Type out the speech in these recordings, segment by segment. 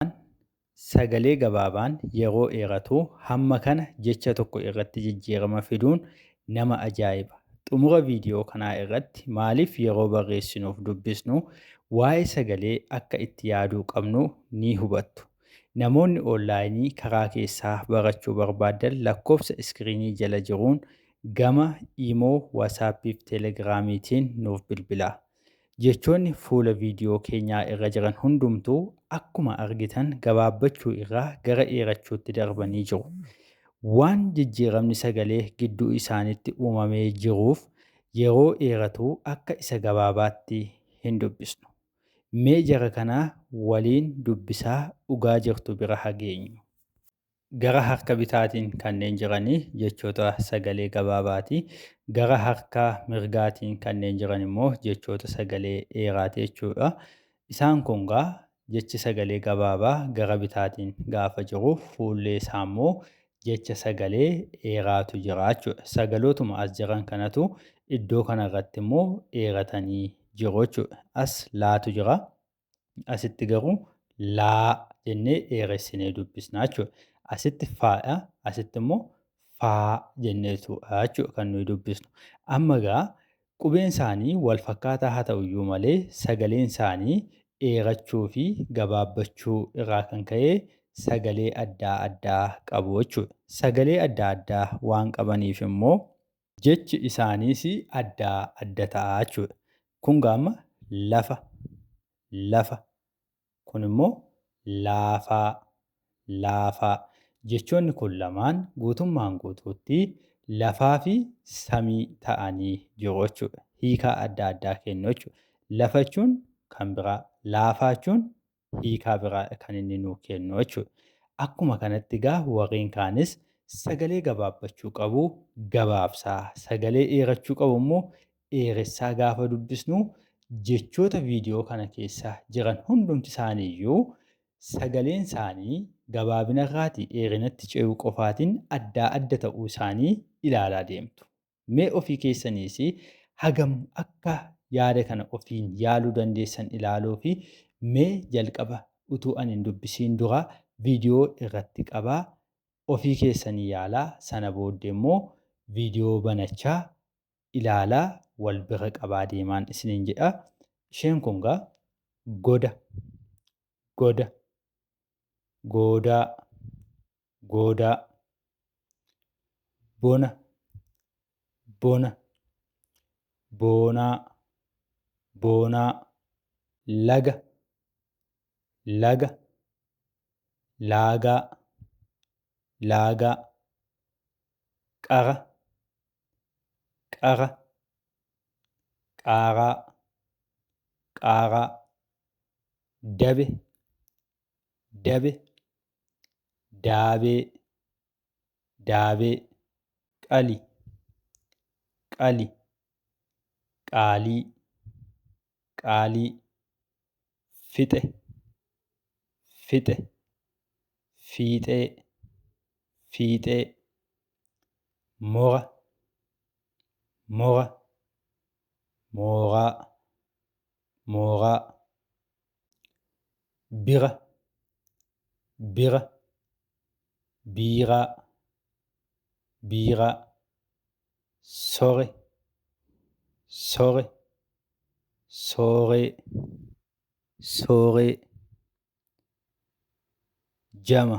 Gabaabaan, Sagalee gabaabaan yeroo dheeratu hamma kana jecha tokko irratti jijjiirama fiduun nama ajaa'iba. Xumura viidiyoo kanaa irratti maaliif yeroo barreessinuuf dubbisnu waa'ee sagalee akka itti yaaduu qabnu ni hubattu. Namoonni oonlaayinii karaa keessaa barachuu barbaaddan lakkoofsa iskiriinii jala jiruun gama Imo, WhatsApp fi Telegram tiin nuuf bilbilaa. Jechoonni fuula viidiyoo keenyaa irra jiran hundumtuu akkuma argitan gabaabbachuu irraa gara dheerachuutti darbanii jiru. Waan jijjiiramni sagalee gidduu isaanitti uumamee jiruuf yeroo dheeratu akka isa gabaabaatti hin dubbisnu. Mee jara kana waliin dubbisaa dhugaa jirtu bira hageenyu. Gara harka bitaatiin kanneen jiran jechoota sagalee gabaabaati. Gara harka mirgaatiin kanneen jiran immoo jechoota sagalee dheeraati jechuudha. Isaan kun gaa jechi sagalee gabaabaa gara bitaatiin gaafa jiru fuullee isaa immoo jecha sagalee dheeraatu jira jechuudha. Sagalootuma as jiran kanatu iddoo kanarratti immoo dheeratanii jiru jechuudha. As laatu jira. Asitti garuu laa jennee dheeressinee dubbisna jechuudha. Asitti faadha, asitti immoo faa jenneetudha jechuudha kan nuyi dubbisnu. Amma egaa qubeen isaanii wal fakkaataa haa ta'u iyyuu malee sagaleen isaanii dheerachuu fi gabaabbachuu irraa kan ka'e sagalee addaa addaa qabu jechuudha. Sagalee addaa addaa waan qabaniif immoo Jechi isaaniis adda adda ta'a jechuudha. Kun gaa amma lafa, lafa. Kun immoo laafaa, laafaa. Jechoonni kun lamaan guutummaan guutuutti lafaa fi samii ta'anii jiru jechuudha. Hiikaa adda addaa kennu jechuudha. Lafa jechuun kan biraa, laafaa jechuun hiikaa biraadha kan inni nuu kennu jechuudha. Akkuma kanatti egaa warreen kaanis sagalee gabaabbachuu qabu gabaabsaa, sagalee dheerachuu qabu immoo dheeressaa gaafa dubbisnu jechoota viidiyoo kana keessa jiran hundumti isaaniiyyuu sagaleen isaanii gabaabinarraatii dheerinatti ce'uu qofaatiin addaa adda ta'uu isaanii ilaalaa deemtu. Mee ofii keessaniis hagam akka yaada kana ofiin yaaluu dandeessan ilaaluufi mee jalqaba utuu ani hin dubbisiin dura viidiyoo irratti qabaa ofii keessanii yaalaa sana booddee immoo viidiyoo banachaa ilaalaa wal bira qabaa deemaan isiniin jedha. Isheen kun gaa goda, goda, goodaa, goodaa bona bona boonaa boonaa laga laga laagaa laagaa qara qara qaaraa qaaraa dabe dabe, daabee, daabee, qali, qali, qaalii, qaalii, fixe, fixe, fiixee, fiixee, mora, mora, mooraa, mooraa, bira bira biiraa biiraa sore sore sooree sooree jama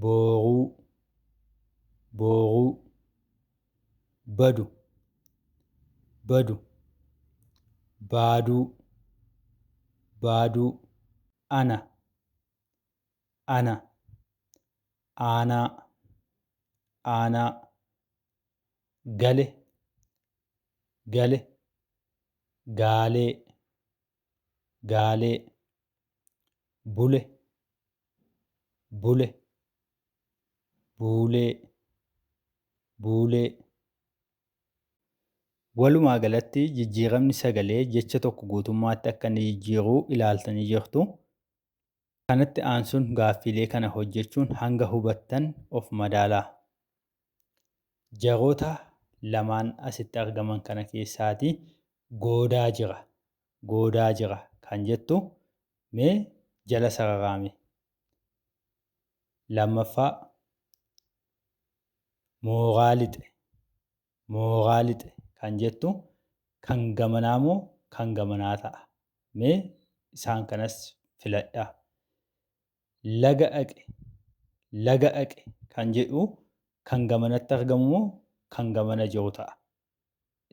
booghuu booghuu badu badu baaduu baaduu ana ana aanaa aanaa gale gale gaalee gaalee bule bule buulee buulee Walumaa galatti jijjiiramni sagalee jecha tokko guutummaatti akka inni jijjiiru ilaaltanii jirtu. Kanatti aansuun gaaffiilee kana hojjechuun hanga hubattan of madaalaa. Jaroota lamaan asitti argaman kana keessaati goodaa jira, goodaa jira kan jettu mee jala sararaami. Lammaffaa mooraa lixe, mooraa lixe kan jettu kan gamanaa moo kan gamanaa ta'a? Mee isaan kanas filadhaa. laga dhaqe, laga dhaqe kan jedhu kan gamanatti argamu moo kan gamana jiru ta'a?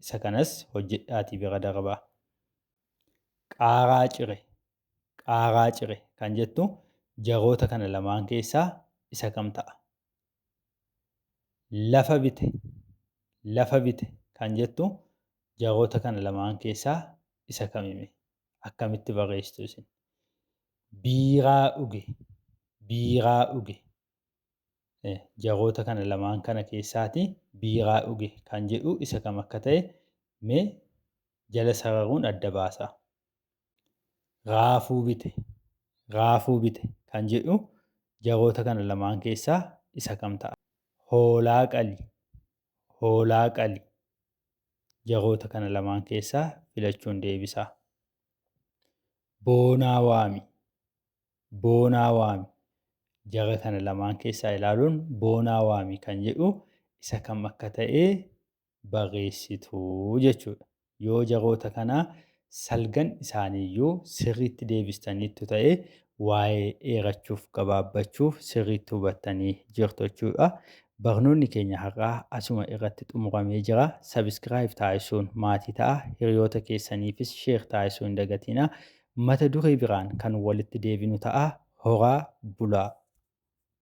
Isa kanas hojjedhaatii bira darbaa. Qaaraa cire, qaaraa cire kan jettu jaroota kana lamaan keessaa isa kam ta'a? Lafa bite, lafa bite kan jettu jaroota kana lamaan keessaa isa kamime? akkamitti barreessitu isin biiraa dhuge biiraa dhuge jaroota kana lamaan kana keessaati biiraa dhuge kan jedhu isa kam akka ta'e mee jala sararuun adda baasaa raafuu bite raafuu bite kan jedhu jaroota kana lamaan keessaa isa kam ta'a hoolaa qali hoolaa qali Jechoota kana lamaan keessaa filachuun deebisaa. Boonaa waami. Boonaa waami. Jara kana lamaan keessaa ilaaluun boonaa waami kan jedhu isa kam akka ta'e barreessitu jechuudha. Yoo jechoota kana Salgan isaanii yoo sirriitti deebistaniittu ta'e waa'ee dheerachuuf gabaabbachuuf sirriitti hubattanii jirtu jechuudha. Barnoonni keenya har'aa asuma irratti xumuramee jira. Subscribe taasisuun maatii ta'aa. Hiriyoota keessaniifis share taasisuu hin dagatiinaa. Mata duree biraan kan walitti deebinu ta'a. Horaa bulaa!